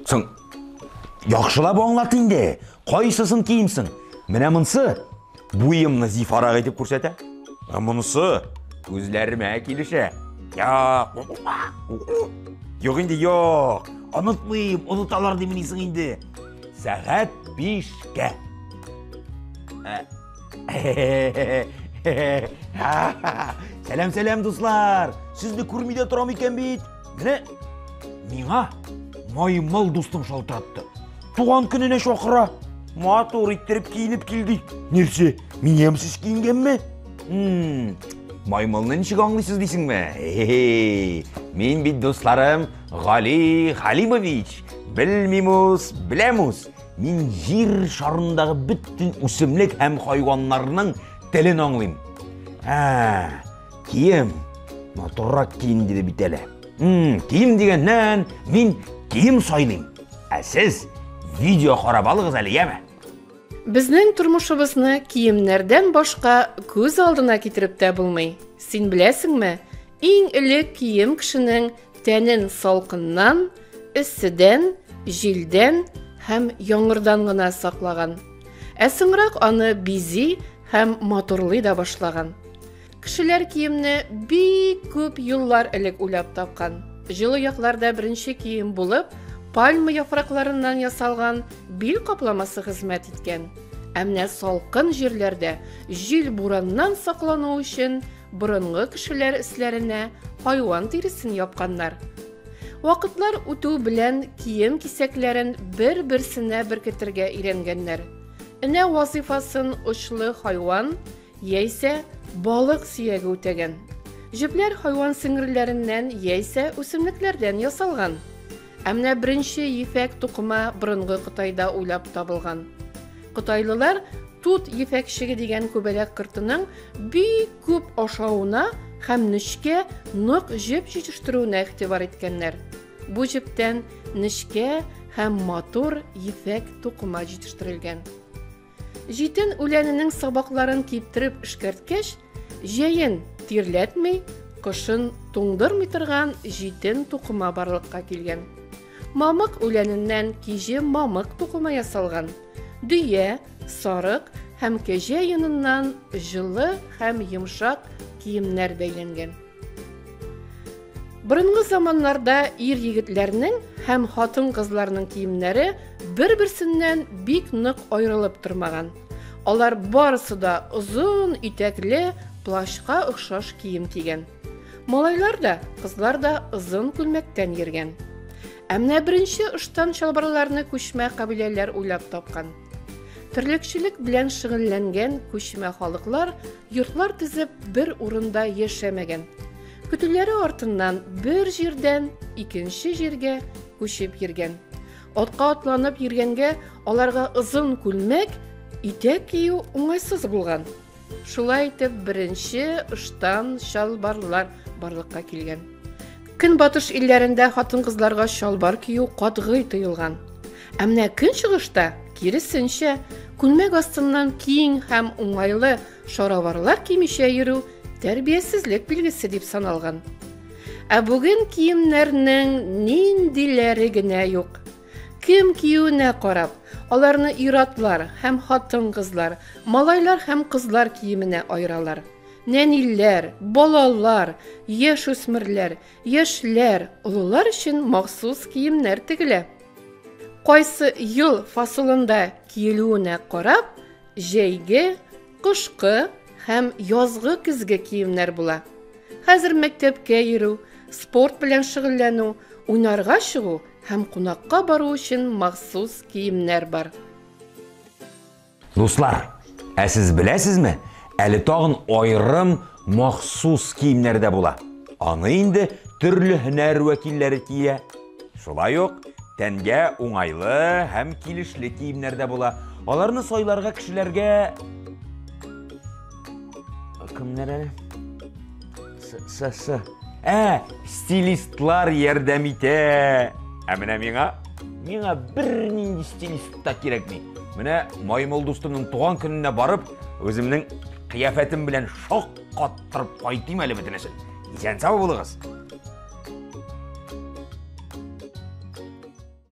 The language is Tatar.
Соң, яхшылап аңлат инде, кайсысын киемсең? Менә монсы буемны зифарак итеп күрсәтә. Ә монысы күзләремә килешә. Як. Юк инде, юк. Онытмыйм, оныталар димнисең инде. Сәгать бишкә. Сәләм, сәләм, дуслар! Сезне күрми дә торам икән бит. Менә миңа маймыл дустым шалтыратты. Туган көненә чакыра. Матур иттереп киенеп килдек. Нәрсә, мин ямьсез киенгәнме? Маймылны ничек аңлыйсыз дисеңме? Мин бит дусларым Гали Халимович. Белмим үз, беләм үз. Мин җир шарындагы бөтен үсемлек һәм хайваннарның телен аңлыйм. Ә, кием. Матуррак кием диде бит әле. Хм, кием дигәннән, мин кием сайлыйм. Ә сез видео карап алыгыз әле, яме? Безнең тормышыбызны киемнәрдән башка күз алдына китереп тә булмый. Син беләсеңме, иң элек кием кешенең Тәнен салкыннан, эсседән, җилдән һәм яңгырдан гына саклаган. Ә соңрак аны бизи һәм матурлый да башлаган. Кешеләр киемне бик күп еллар элек уйлап тапкан. Җылы якларда беренче кием булып пальма яфракларыннан ясалган бил капламасы хезмәт иткән. Ә менә салкын җирләрдә җил бураннан саклану өчен Борынгы кешеләр өсләренә хайван тиресен япканнар. Вакытлар үтү белән кием кисәкләрен бер-берсенә беркетергә өйрәнгәннәр. Энә вазыйфасын очлы хайван яисә балык сөяге үтәгән. Җепләр хайван сеңгерләреннән яисә үсемлекләрдән ясалган. Ә менә беренче ефәк тукыма борынгы Кытайда уйлап табылган. Кытайлылар тут ефәкчеге дигән күбәләк кортының бик күп ашавына һәм нечкә нык җеп җитештерүенә игътибар иткәннәр. Бу җептән нечкә һәм матур ефәк тукыма җитештерелгән. Җитен үләненең сабакларын киптереп эшкәрткәч, җәен тирләтми, кышын туңдырмый торган җитен тукыма барлыкка килгән. Мамык үләненнән киҗе мамык тукыма ясалган. Дөя, сарык һәм кәҗә йоныннан җылы һәм йомшак киемнәр бәйләнгән. Борынгы заманнарда ир-егетләрнең һәм хатын-кызларның киемнәре бер-берсеннән бик нык аерылып тормаган. Алар барысы да озын итәкле плащка охшаш кием кигән. Малайлар да, кызлар да озын күлмәктән йөргән. Ә менә беренче ыштан чалбарларны күчмә кабиләләр уйлап тапкан. Терлекчелек белән шөгыльләнгән күчмә халыклар йортлар төзеп бер урында яшәмәгән. Көтүләре артыннан бер җирдән икенче җиргә күчеп йөргән. Атка атланып йөргәнгә аларга озын күлмәк, итәк кию уңайсыз булган. Шулай итеп, беренче ыштан чалбарлар барлыкка килгән. Көнбатыш илләрендә хатын-кызларга чалбар кию катгый тыелган. Ә менә көнчыгышта, киресенчә, күлмәк астыннан киң һәм уңайлы шароварлар кимичә йөрү тәрбиясезлек билгесе дип саналган. Ә бүген киемнәрнең ниндиләре генә юк. Кем киюенә карап, аларны ир-атлар һәм хатын-кызлар, малайлар һәм кызлар киеменә аералар. Нәниләр, балалар, яшүсмерләр, яшьләр, олылар өчен махсус киемнәр тегелә. Кайсы ел фасылында киелүенә карап, җәйге, кышкы һәм язгы-көзге киемнәр була. Хәзер мәктәпкә йөрү, спорт белән шөгыльләнү, уйнарга чыгу Һәм кунакка бару өчен махсус киемнәр бар. Дуслар, ә сез беләсезме, әле тагын айрым махсус киемнәр дә була. Аны инде төрле һөнәр вәкилләре кия. Шулай ук тәнгә уңайлы һәм килешле киемнәр дә була. Аларны сайларга кешеләргә кемнәр әле? С-с-с. Ә, стилистлар ярдәм итә. Ә менә миңа, миңа бер нинди стилист та кирәкми. Менә Маймыл дустымның туган көненә барып, үземнең кыяфәтем белән шок каттырып кайтыйм әле бөтенесен. Исән-сау булыгыз.